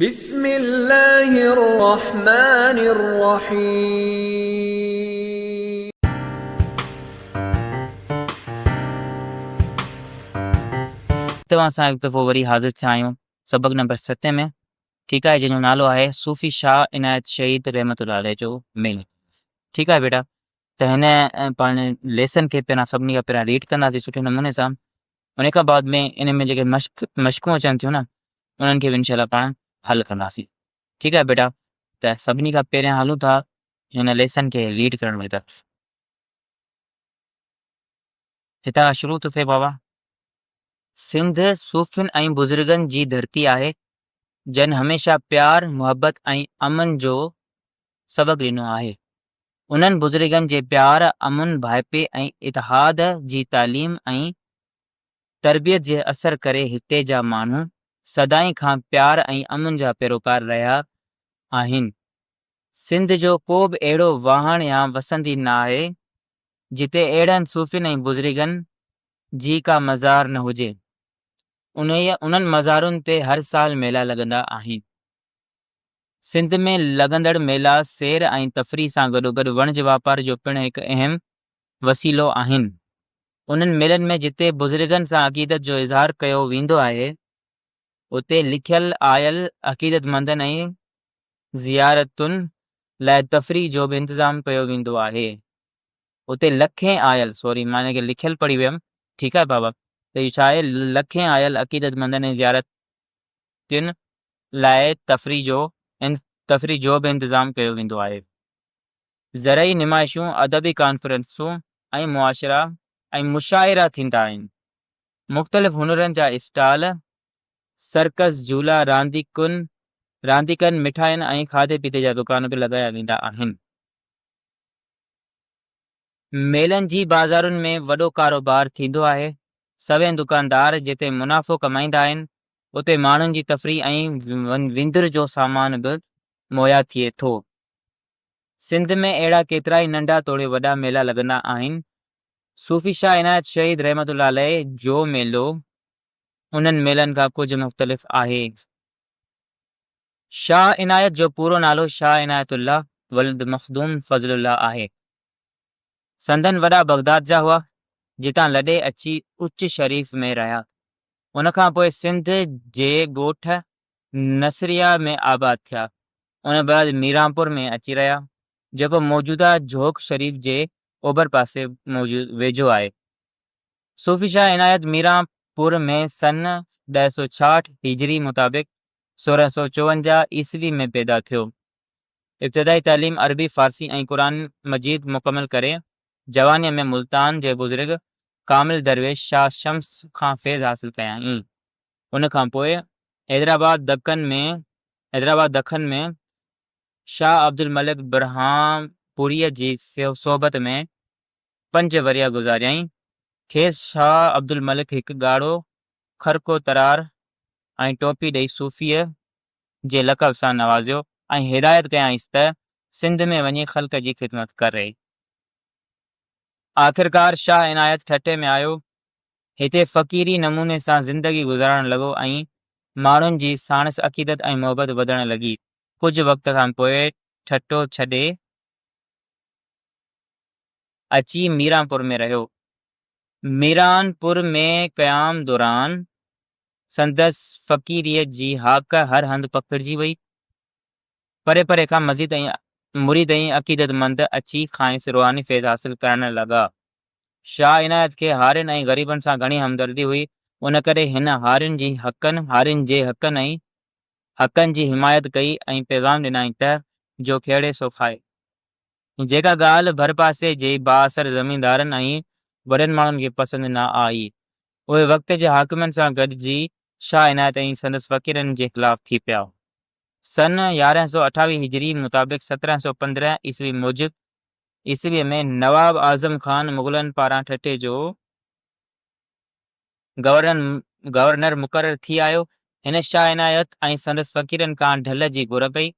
بسم الله الرحمن الرحيم. اتي اسان هڪ دفعو وري حاضر ٿيا آهيون سبق نمبر ستين ۾ ٺيڪ آهي جنهن جو نالو آهي صوفي شاهه عنايت شهيد رحمت الله عليه جو ميل ٺيڪ آهي بيٽا ته هن پاڻ ليسن کي پهريان سڀني کان پهريان ريڊ ڪنداسي سٺي نموني سان ان کان بعد ۾ ان ۾ جيڪي مشق مشقون اچن ٿيون نا انهن کي به انشاء الله پاڻ حل ڪنداسين ٺيڪ آهي بيٽا ته سڀني کان پهريان هلون ٿا هن ليسن کي ليڊ ڪرڻ جي طرف هتان کان شروع ٿو ٿئي بابا سنڌ صوفين ۽ بزرگن جي ڌرتي آهي جن هميشه پيار محبت ۽ امن جو سبق ڏنو آهي انهن بزرگن جي پيار امن ڀائپي ۽ اتحاد جي تعليم ۽ تربيت جي اثر ڪري هتي جا ماڻهو سدائين کان پيار ۽ امن جا پيروڪار رهيا آهن. سنڌ جو ڪو به اهڙو واهڻ يا وسندي ناهي، جتي اهڙن صوفين ۽ بزرگن جي ڪا مزار نه هجي. انهيء انهن مزارن تي هر سال ميلا لڳندا آهن. سنڌ ۾ لڳندڙ ميلا سير ۽ تفريح سان گڏوگڏ وڻج واپار جو پڻ هڪ اهم وسيلو آهن. انهن ميلن ۾ جتي بزرگن سان عقيدت جو اظهار ڪيو ويندو آهي، اتي لکيل آيل عقيدتمندن ۽ زيارتن لاء تفريح جو به انتظام ڪيو ويندو آهي. اتي لکين آيل سوري مان هن کي لکيل پڙهي ويم ٺيڪ آهي بابا ته اهو ڇا آهي لکين آيل عقيدتمندن ۽ زيارتين لاء تفريح جو تفريح جو به انتظام ڪيو ويندو آهي. زرعي نمائشون، ادبي ڪانفرنسون ۽ معاشرا ۽ مشاعرا ٿيندا آهن. مختلف هنرن جا اسٽال، سرڪس، جهولا، رانديڪن، رانديڪن، مٺاين ۽ کاڌي پيتي جا دڪان به لڳايا ويندا آهن. ميلن جي بازارن ۾ وڏو ڪاروبار ٿيندو آهي. سوين دڪاندار جتي منافعو ڪمائيندا آهن، اتي ماڻهن جي تفريح ۽ وندر جو سامان به مهيا ٿئي ٿو. سنڌ ۾ اهڙا ڪيترائي ننڍا توڙي وڏا ميلا لڳندا آهن. صوفي شاهه عنايت شهيد رحمة الله عليه جو ميلو انهن ميلن کان ڪجهه مختلف آهي. شاهه عنايت جو پورو نالو شاهه عنايت الله ولد مخدوم فضل الله آهي. سندن وڏا بغداد جا هئا، جتان لڏي اچي اچ شريف ۾ رهيا. ان کان پوء سنڌ جي ڳوٺ نصريه ۾ آباد ٿيا، ان بعد ميرانپور ۾ اچي رهيا، جيڪو موجوده جھوڪ شريف جي اوڀر پاسي موجود ويجھو آهي. صوفي شاهه عنايت ميران پور ۾ سن ڏهه سؤ ڇاهٺ هجري مطابق سورهن سؤ چوونجاهه عيسوي ۾ پيدا ٿيو. ابتدائي تعليم عربي، فارسي ۽ قرآن مجيد مڪمل ڪري جوانيء ۾ ملتان جي بزرگ ڪامل درويش شاهه شمس کان فيض حاصل ڪيائين. ان کان پوء حيدرآباد دکن ۾ حيدرآباد دکن ۾ شاهه عبدالملڪ برهانپوريء جي صحبت ۾ پنج ورهيه گذاريائين. کيس شاهه عبدالملڪ هڪ ڳاڙهو کرڪو ترار ۽ ٽوپي ڏئي صوفيء جي لقب سان نوازيو ۽ هدايت ڪيائينس ته سنڌ ۾ وڃي خلق جي خدمت ڪري. آخرڪار شاهه عنايت ٺٽي ۾ آيو هتي فقيري نموني سان زندگي گذارڻ لڳو ۽ ماڻهن جي ساڻس عقيدت ۽ محبت وڌڻ لڳي. ڪجهه وقت کان پوء ٺٽو ڇڏي اچي ميرانپور ۾ رهيو. ميرانپور ۾ قيام دوران سندس فقيريء جي هاڪ هر هنڌ پکڙجي وئي. پري پري کان مزيد ۽ مريد ۽ عقيدت مند اچي کانئس روحاني فيض حاصل ڪرڻ لڳا. شاهه عنايت کي هارين ۽ غريبن سان گهڻي همدردي هئي، ان ڪري هن هارين جي حقن، هارين جي حقن ۽ حقن جي حمايت ڪئي ۽ پيغام ڏنائين ته، جو کيڙي سو کائي. جيڪا ڳالهه ڀرپاسي جي بااثر زميندارن ۽ وڏن ماڻهن کي پسند نه آئي، اهي وقت جي حاڪمن سان گڏجي شاهه عنايت ۽ سندس فقيرن جي خلاف ٿي پيا. سن يارهن سؤ اٺاويهه هجري مطابق سترهن سؤ پندرهن عيسوي موجب عيسويء ۾ نواب اعظم خان مغلن پاران ٺٽي جو گورنر مقرر ٿي آيو. هن شاهه عنايت ۽ سندس فقيرن کان ڍل جي گهر ڪئي.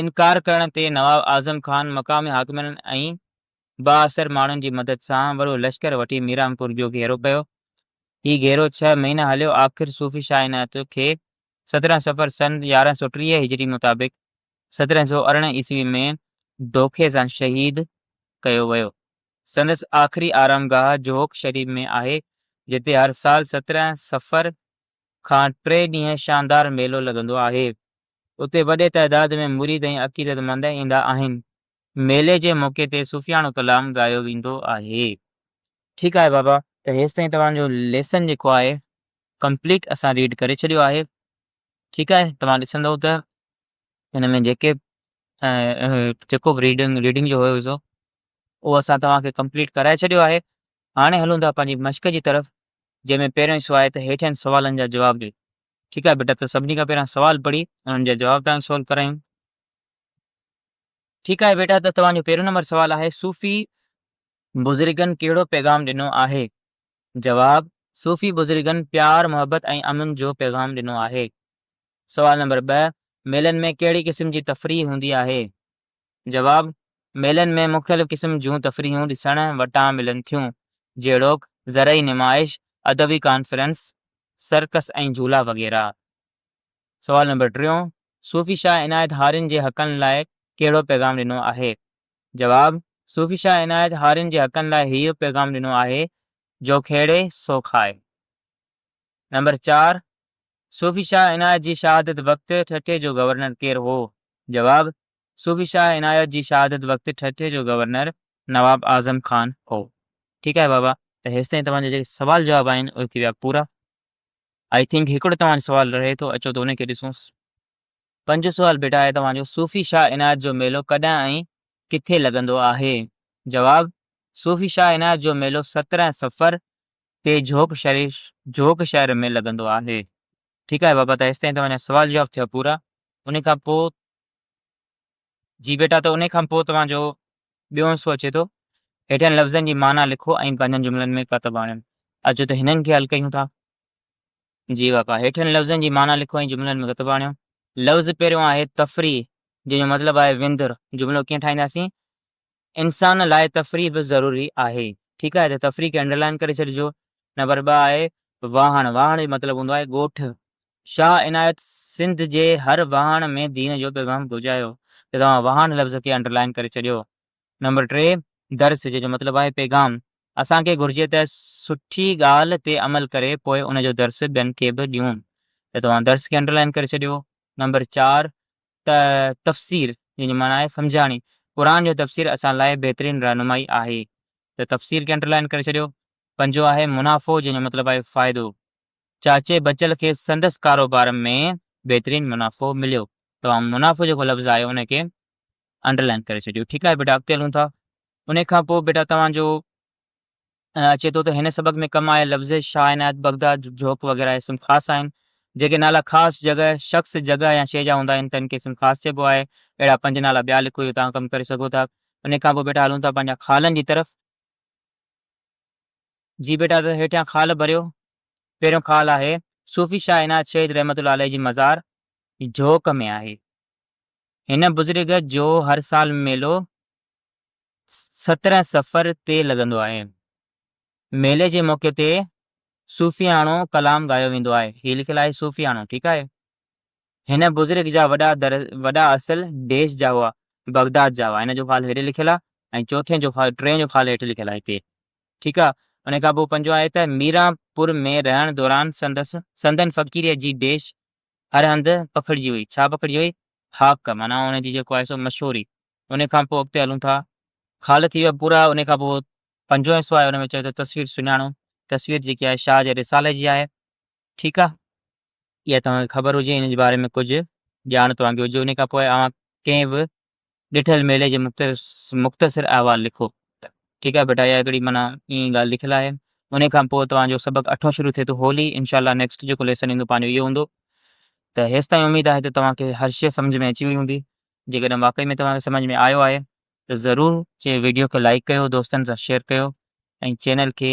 انڪار ڪرڻ تي نواب اعظم خان مقامي حاڪمن ۽ بااثر ماڻهن جي مدد سان وڏو لشڪر وٺي ميرانپور جو گهيرو ڪيو. هي گهيرو ڇهه مهينا هليو. آخر صوفي شاهه عنايت کي سترهن صفر سن يارهن سؤ ٽيهه هجري مطابق سترهن سؤ ارڙهن عيسوي ۾ دوکي سان شهيد ڪيو ويو. سندس آخري آرام گاهه جهوڪ شريف ۾ آهي، جتي هر سال سترهن صفر کان ٽي ڏينهن شاندار ميلو لڳندو آهي. اتي وڏي تعداد ۾ مريد ۽ عقيدت مند ايندا آهن. ميلي جي موقعي تي صوفياڻو ڪلام ڳايو ويندو آهي. ٺيڪ آهي بابا ته هيستائين توهان جو ليسن جيڪو آهي ڪمپليٽ اسان ريڊ ڪري ڇڏيو آهي ٺيڪ آهي توهان ڏسندو ته ان ۾ جيڪي جيڪو به ريڊنگ ريڊنگ جو هيو سو اهو اسان توهان کي ڪمپليٽ ڪرائي ڇڏيو آهي هاڻي هلون ٿا پنهنجي مشق جي طرف جنهن ۾ پهريون حصو آهي ته هيٺين سوالن جا جواب ڏي ٺيڪ آهي بيٽا ته سڀني کان پهريان سوال پڙهي انهن جا جواب توهان سولو ڪرايون ٺيڪ آهي بيٽا ته توهان جو پهريون نمبر سوال آهي صوفي بزرگن ڪهڙو پيغام ڏنو آهي جواب، صوفي بزرگن پيار، محبت ۽ امن جو پيغام ڏنو آهي. سوال نمبر ٻه، ميلن ۾ ڪهڙي قسم جي تفريح هوندي آهي؟ جواب، ميلن ۾ مختلف قسم جون تفريحون ڏسڻ وٽان ملن ٿيون، جهڙوڪ، زرعي نمائش، ادبي ڪانفرنس، سرڪس ۽ جهولا وغيره. سوال نمبر ٽيون، صوفي شاهه عنايت هارين جي حقن لاء ڪهڙو پيغام ڏنو آهي؟ جواب، صوفي شاهه عنايت هارين جي حقن لاء هيء پيغام ڏنو آهي، جو کيڙي سو کائي. نمبر چار، صوفي شاهه عنايت جي شهادت وقت ٺٽي جو گورنر ڪير هو؟ جواب، صوفي شاهه عنايت جي شهادت وقت ٺٽي جو گورنر نواب اعظم خان هو. ٺيڪ آهي بابا ته هيستائين توهان جا جيڪي سوال جواب آهن اهي ٿي ويا پورا. آئي ٿنڪ هڪڙو توهان جو سوال رهي ٿو اچو ته ان کي ڏسونس. پنج سوال بيٽا آهي توهان جو صوفي شاهه عنايت جو ميلو ڪڏهن ۽ ڪٿي لڳندو آهي؟ جواب، صوفي شاهه عنايت جو ميلو سترهن صفر تي جھوڪ شريف جھوڪ شهر ۾ لڳندو آهي. ٺيڪ آهي بابا ته هيستائين توهان جا سوال جواب ٿيا پورا انهي کان پوء جي بيٽا ته انهي کان پوء توهان جو ٻيو حصو اچي ٿو هيٺين لفظن جي معنيٰ لکو ۽ پنهنجن جملن ۾ ڪتب آڻيو اچو ته هنن کي حل ڪيون ٿا. جي واڪا، هيٺين لفظن جي معنيٰ لکو ۽ جملن ۾ گت ڀاڻيو. لفظ پهريون آهي تفريح، جنهن جو مطلب آهي وندر. جملو ڪيئن ٺاهينداسين؟ انسان لاء تفريح به ضروري آهي. ٺيڪ آهي ته تفريح کي انڊرلائن ڪري ڇڏجو. نمبر ٻه آهي واهڻ. واهڻ جو مطلب هوندو آهي ڳوٺ. شاهه عنايت سنڌ جي هر واهڻ ۾ دين جو پيغام پهچايو ته توهان واهڻ لفظ کي انڊرلائن ڪري ڇڏيو. نمبر ٽي، درس، جنهن جو مطلب آهي پيغام، اسان کي گهرجي ته سٺي ڳالهه تي عمل ڪري پوء ان جو درس ٻين کي به ڏيون ته توهان درس کي انڊرلائن ڪري ڇڏيو. نمبر چار، ت، تفسير، جنهن جي معنيٰ آهي سمجهاڻي، قرآن جو تفسير اسان لاء بهترين رهنمائي آهي ته تفسير کي انڊرلائن ڪري ڇڏيو. پنجون آهي منافعو، جنهن جو مطلب آهي فائدو، چاچي بچل کي سندس ڪاروبار ۾ بهترين منافعو مليو، توهان منافعو جيڪو لفظ آهي ان کي انڊرلائن ڪري ڇڏيو ٺيڪ آهي بيٽا اڳتي هلون ٿا ان کان پوء بيٽا توهان جو اچي ٿو ته هن سبق ۾ ڪم آيل لفظ شاهه عنايت بغداد جھوڪ وغيره اسم خاص آهن جيڪي نالا خاص جڳهه شخص جڳهه يا شيء جا هوندا آهن تن کي اسم خاص چئبو آهي اهڙا پنج نالا ٻيا لکو اهو توهان ڪم ڪري سگهو ٿا ان کان پوء بيٽا هلون ٿا پنهنجا خالن جي طرف جي بيٽا ته هيٺيان خال ڀريو پهريون خال آهي صوفي شاهه عنايت شهيد رحمت الله عليه جي مزار جھوڪ ۾ آهي. هن بزرگ جو هر سال ميلو سترهن صفر تي لڳندو آهي. ميلي جي موقعي تي صوفياڻو ڪلام ڳايو ويندو آهي. هي لکيل آهي صوفياڻو ٺيڪ آهي. هن بزرگ جا وڏا در وڏا اصل ديش جا هئا بغداد جا هئا هن جو خال هيڏي لکيل آهي ۽ چوٿين جو خال ٽين جو خال هيٺ لکيل آهي هتي ٺيڪ آهي ان کان پوء پنجون آهي ته ميران پور ۾ رهڻ دوران سندس سندن فقيريء جي ديش هر هنڌ پکڙجي وئي. ڇا پکڙجي وئي؟ هاڪ، معنيٰ ان جي جيڪو آهي سو مشهوري. ان کان پوء اڳتي هلون ٿا. خال ٿي ويا پورا. ان کان پوء پنجون حصو آهي ان ۾ چوي ٿو تصوير سڃاڻو. تصوير جيڪي آهي شاهه جي رسالي جي آهي. ٺيڪ آهي. اها توهان کي خبر هجي ان جي باري ۾ ڪجهه ڄاڻ توهان کي هجي. ان کان پوء اوهان ڪنهن به ڏٺل ميلي جي مختصر احوال لکو. ٺيڪ آهي بيٽا اها هڪڙي معنيٰ ائين ڳالهه لکيل آهي. انهي کان پوء توهان جو سبق اٺون شروع ٿئي ٿو هولي انشاء الله نيڪسٽ جيڪو ليسن ايندو پنهنجو اهو هوندو ته هيستائين اميد آهي ته توهان کي هر شيء سمجهه ۾ اچي وئي هوندي جيڪڏهن واقعي ۾ توهان کي سمجهه ۾ آيو آهي ته ضرور چي ويڊيو کي لائڪ ڪيو دوستن سان شيئر ڪيو ۽ چينل کي